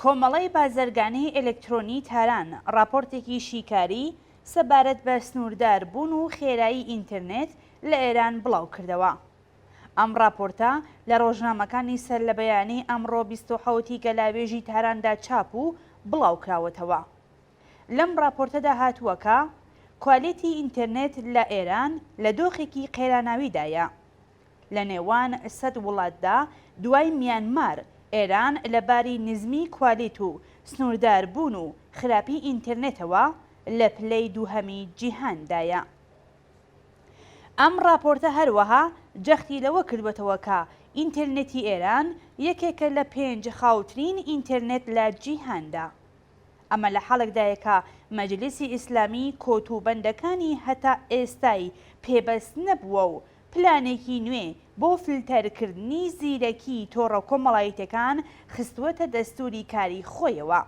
کۆمەڵەی بازرگانیی ئێلکترۆنیی تاران ڕاپۆرتێکی شیکاری سەبارەت بە سنووردار بوون و خێرایی ئینترنێت لە ئێران بڵاو کردەوە. ئەم ڕاپۆرتە لە ڕۆژنامەکانی سەر لە بەیانی ئەمڕۆ بیست و حەوت ی گەلاوێژی تاراندا چاپ و بڵاو کراوەتەوە. لەم ڕاپۆرتەدا هاتووە کە کوالێتی ئینترنێت لە ئێران لە دۆخێکی قەیراناویدایە لە نێوان سەد وڵاتدا دوای میانمار، ئێران لە باری نزمی کوالیت و سنووردار بوون و خراپی ئینترنێتەوە لە پلەی دووهەمی جیهاندایە. ئەم ڕاپۆرتە هەروەها جەختی لەوە کردووەتەوە کە ئینترنێتی ئێران یەکێکە لە پێنج خاوترین ئینترنێت لە جیهاندا. ئەمە لە حاڵێکدایە کە مەجلیسی ئیسلامی کۆت و بەندەکانی هەتا ئێستای پێبەست نەبووە و پلانێکی نوێ بۆ فلتەرکردنی زیرەکی تۆڕە کۆمەڵایتەکان خستووەتە دەستووری کاری خۆیەوە.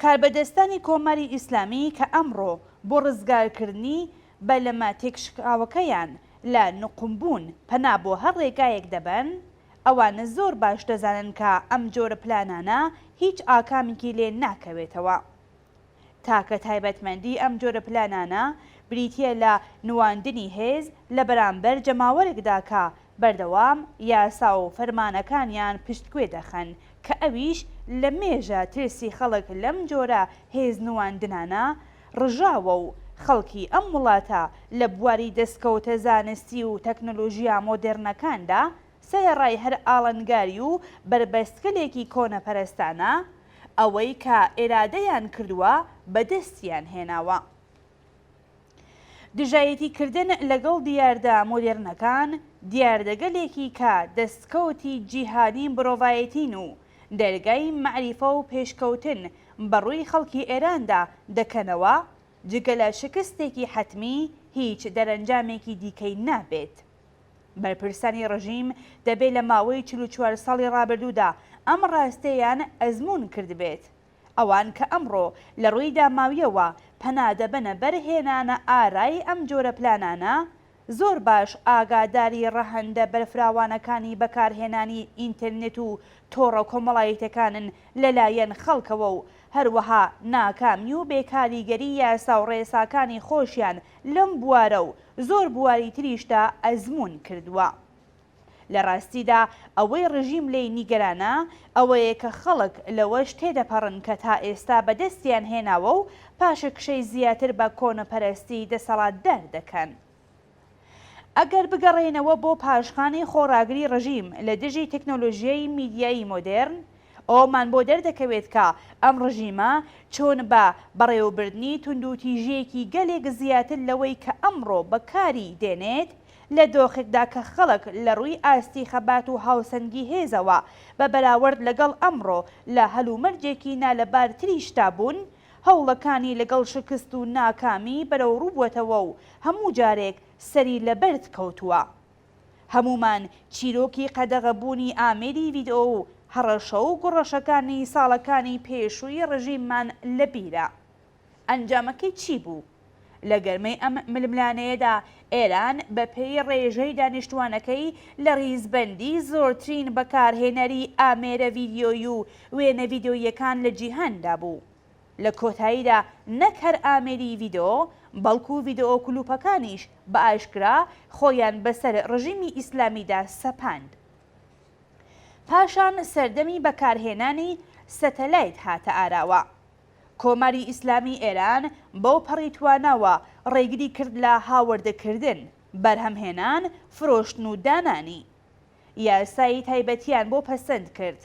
کاربەدەستانی کۆماری ئیسلامی کە ئەمڕۆ بۆ ڕزگارکردنی بەلەمە تێکشکاوەکەیان لە نوقمبوون پەنا بۆ هەر ڕێگایەک دەبەن، ئەوانە زۆر باش دەزانن کە ئەم جۆرە پلانانە هیچ ئاکامێکی لێ ناکەوێتەوە. تاکە تایبەتمەندی ئەم جۆرە پلانانە بریتییە لە نواندنی هێز لە بەرامبەر جەماوەرێکدا کە بەردەوام یاسا و فەرمانەکانیان پشتگوێ دەخەن کە ئەویش لە مێژە ترسی خەڵک لەم جۆرە هێز نواندنانە ڕژاوە و خەڵکی ئەم وڵاتە لە بواری دەستکەوتە زانستی و تەکنۆلۆژیا مۆدێرنەکاندا سەرەڕای هەر ئاڵەنگاری و بەربەستگەلێکی کۆنەپەرستانە، ئەوەی کە ئێرادەیان کردووە بەدەستیان هێناوە. دژایەتی کردن لەگەڵ دیاردە مۆدێرنەکان، دیاردەگەلێکی کە دەستکەوتی جیهانی مرۆڤایەتین و دەرگای مەعریفە و پێشکەوتن بەڕووی خەڵکی ئێراندا دەکەنەوە، جگە لە شکستێکی حەتمی، هیچ دەرەنجامێکی دیکەی نابێت. بەرپرسانی ڕژیم دەبێ لە ماوەی چل و چوار ساڵی ڕابردوودا ئەم ڕاستێیان ئەزموون کردبێت. ئەوان کە ئەمڕۆ لە ڕووی داماویەوە پەنا دەبەنە بەر هێنانە ئارای ئەم جۆرە پلانانە، زۆر باش ئاگاداری ڕەهەندە بەرفراوانەکانی بەکارهێنانی ئینترنت و تۆڕە کۆمەڵایتەکانن لە لایەن خەڵکەوە و هەروەها ناکامی و بێکاریگەری یاساو ڕێساکانی خۆشیان لەم بوارە و زۆر بواری تریشدا ئەزموون کردووە. لە ڕاستیدا ئەوەی ڕژیم لێی نیگەرانە ئەوەیە کە خەڵک لەوەش تێدەپەڕن کە تا ئێستا بەدەستیان هێناوە و پاشەکشەی زیاتر بە کۆنەپەرەستی دەسەڵاتدار دەکەن. ئەگەر بگەڕێینەوە بۆ پاشخانی خۆڕاگری ڕژیم لە دژی تەکنۆلۆژیای میدیایی مۆدێرن، ئەوەمان بۆ دەردەکەوێت کە ئەم ڕژیمە چۆن بە بەڕێوەبردنی توندوتیژییەکی گەلێک زیاتر لەوەی کە ئەمڕۆ بەکاری دێنێت، لە دۆخێکدا کە خەڵک لە ڕووی ئاستی خەبات و هاوسەنگی هێزەوە بە بەراوەرد لەگەڵ ئەمڕۆ لە هەلومەرجێکی نالەبارتریشدا بوون، هەوڵەکانی لەگەڵ شکست و ناکامی بەرەوڕوو بووەتەوە و هەموو جارێک سەری لە بەرد کەوتووە. هەموومان چیرۆکی قەدەغەبوونی ئامێری ڤیدئۆ و هەڕەشە و گوڕەشەکانی ساڵەکانی پێشووی ڕژیممان لە بیرە. ئەنجامەکەی چی بوو؟ لە گەرمەی ئەم ململانێیەدا ئێران بە پێی ڕێژەی دانیشتووانەکەی لە ڕیزبەندی زۆرترین بەکارهێنەری ئامێرە ڤیدیۆیی و وێنە ڤیدیۆییەکان لە جیهاندا بوو. لە کۆتاییدا نەک هەر ئامێری ڤیدۆ، بەڵکو ڤیدۆ کلوپەکانیش بە ئاشکرا خۆیان بەسەر ڕژیمی ئیسلامیدا سەپاند. پاشان سەردەمی بەکارهێنانی سەتەلایت هاتە ئاراوە. کۆماری ئیسلامی ئێران بەوپەڕی تواناوە ڕێگری کرد لە هاوردەکردن، بەرهەمهێنان، فرۆشتن و دانانی. یاسای تایبەتیان بۆ پەسەند کرد.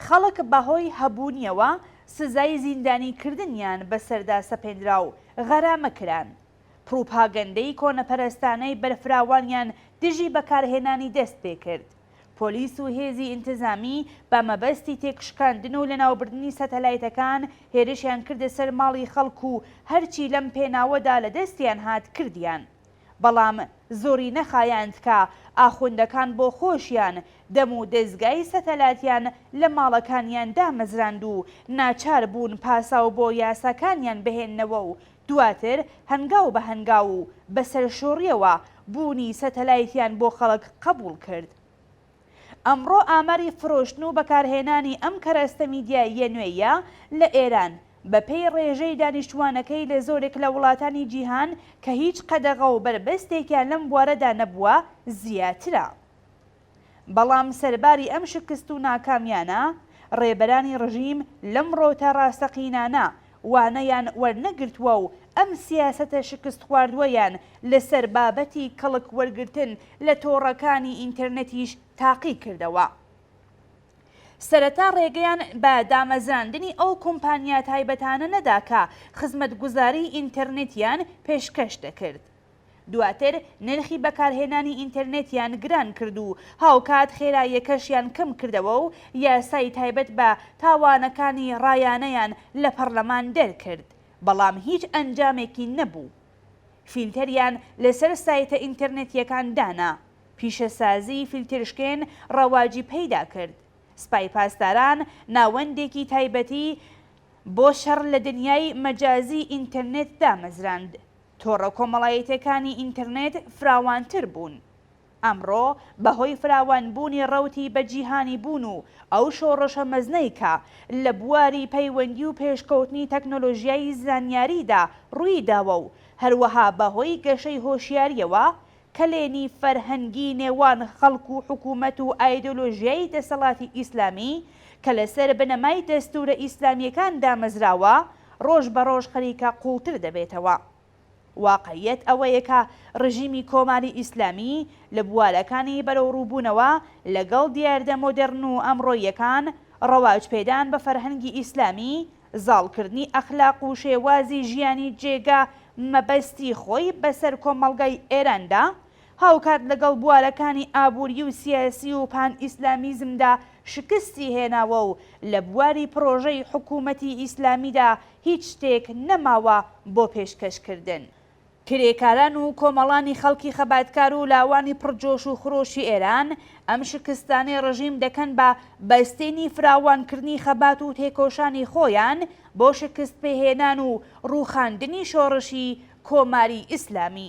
خەڵک بەهۆی هەبوونیەوە سزای زیندانیکردنیان بەسەردا سەپێنرا و غەرامە کران. پڕوپاگەندەی کۆنەپەرستانەی بەرفراوانیان دژی بەکارهێنانی دەست پێ کرد. پۆلیس و هێزی ئینتزامی بە مەبەستی تێکشکاندن و لەناوبردنی سەتەلایتەکان هێرشیان کردە سەر ماڵی خەڵک و هەرچی لەم پێناوەدا لە دەستیان هات کردیان. بەڵام زۆری نەخایاند کە ئاخوندەکان بۆ خۆشیان دەم و دەزگای سەتەلاتیان لە ماڵەکانیان دامەزراند و ناچار بوون پاساو بۆ یاساکانیان بهێننەوە و دواتر هەنگاو بە هەنگاو و بە سەرشۆڕیەوە بوونی سەتەلایتیان بۆ خەڵک قەبوڵ کرد. ئەمڕۆ ئاماری فرۆشتن و بەکارهێنانی ئەم کەرەستە میدیاییە نوێیە لە ئێران، بەپێی ڕێژەی دانیشتووانەکەی لە زۆرێک لە وڵاتانی جیهان کە هیچ قەدەغە و بەربەستێکیان لەم بوارەدا نەبووە، زیاترە. بەڵام سەرباری ئەم شکست و ناکامییانە، ڕێبەرانی ڕژیم لەم ڕەوتە ڕاستەقینانە وانەیان وەرنەگرتووە و ئەم سیاسەتە شکستخواردووەیان لەسەر بابەتی کەڵک وەرگرتن لە تۆڕەکانی ئینتەرنێتیش تاقی کردەوە. سەرەتا ڕێگەیان بە دامەزراندنی ئەو کۆمپانیا تایبەتانە نەدا کە خزمەتگوزاریی ئینتەرنێتیان پێشکەش دەکرد. دواتر نرخی بەکارهێنانی ئینتەرنێتیان گران کرد و هاوکات خێراییەکەشیان کەم کردەوە و یاسای تایبەت بە تاوانەکانی ڕایانەیان لە پەڕلەمان دەرکرد بەڵام هیچ ئەنجامێکی نەبوو فیلتەریان لەسەر سایتە ئینتەرنێتیەکان دانا پیشەسازی فیلترشکێن ڕەواجی پەیدا کرد سپای پاسداران ناوەندێکی تایبەتی بۆ شەڕ لە دنیای مەجازی ئینتەرنێت دامەزراند. تۆڕە کۆمەڵایەتیەکانی ئینتەرنێت فراوانتر بوون. ئەمڕۆ بەهۆی فراوانبوونی ڕەوتی بەجیهانی بوون و ئەو شۆڕشە مەزنەی کە لە بواری پەیوەندی و پێشکەوتنی تەکنۆلۆژیای زانیاریدا ڕوویداوە و هەروەها بەهۆی گەشەی هۆشیاریەوە کەلێنی فەرهەنگی نێوان خەڵک و حکوومەت و ئایدۆلۆژیای دەسەڵاتی ئیسلامی کە لەسەر بنەمای دەستوورە ئیسلامییەکان دامەزراوە، ڕۆژ بە ڕۆژ خەریکە قووڵتر دەبێتەوە. واقعییەت ئەوەیە کە ڕژیمی کۆماری ئیسلامی لە بوارەکانی بەرەوڕووبوونەوە لەگەڵ دیاردە مۆدێڕن و ئەمڕۆییەکان، ڕەواجپێدان بە فەرهەنگی ئیسلامی زاڵکردنی ئەخلاق و شێوازی ژیانی جێگا مەبەستی خۆی بەسەر کۆمەڵگای ئێراندا، هاوکات لەگەڵ بوارەکانی ئابووری و سیاسی و پان ئیسلامیزمدا شکستی هێناوە و لە بواری پڕۆژەی حکوومەتی ئیسلامیدا هیچ شتێک نەماوە بۆ پێشکەشکردن. کرێکاران و کۆمەڵانی خەڵکی خەباتکار و لاوانی پڕ جۆش و خرۆشی ئێران ئەم شکستانەی ڕژیم دەکەن بە بەستێنی فراوانکردنی خەبات و تێکۆشانی خۆیان بۆ شکست پێهێنان و ڕووخاندنی شۆڕشی کۆماری ئیسلامی.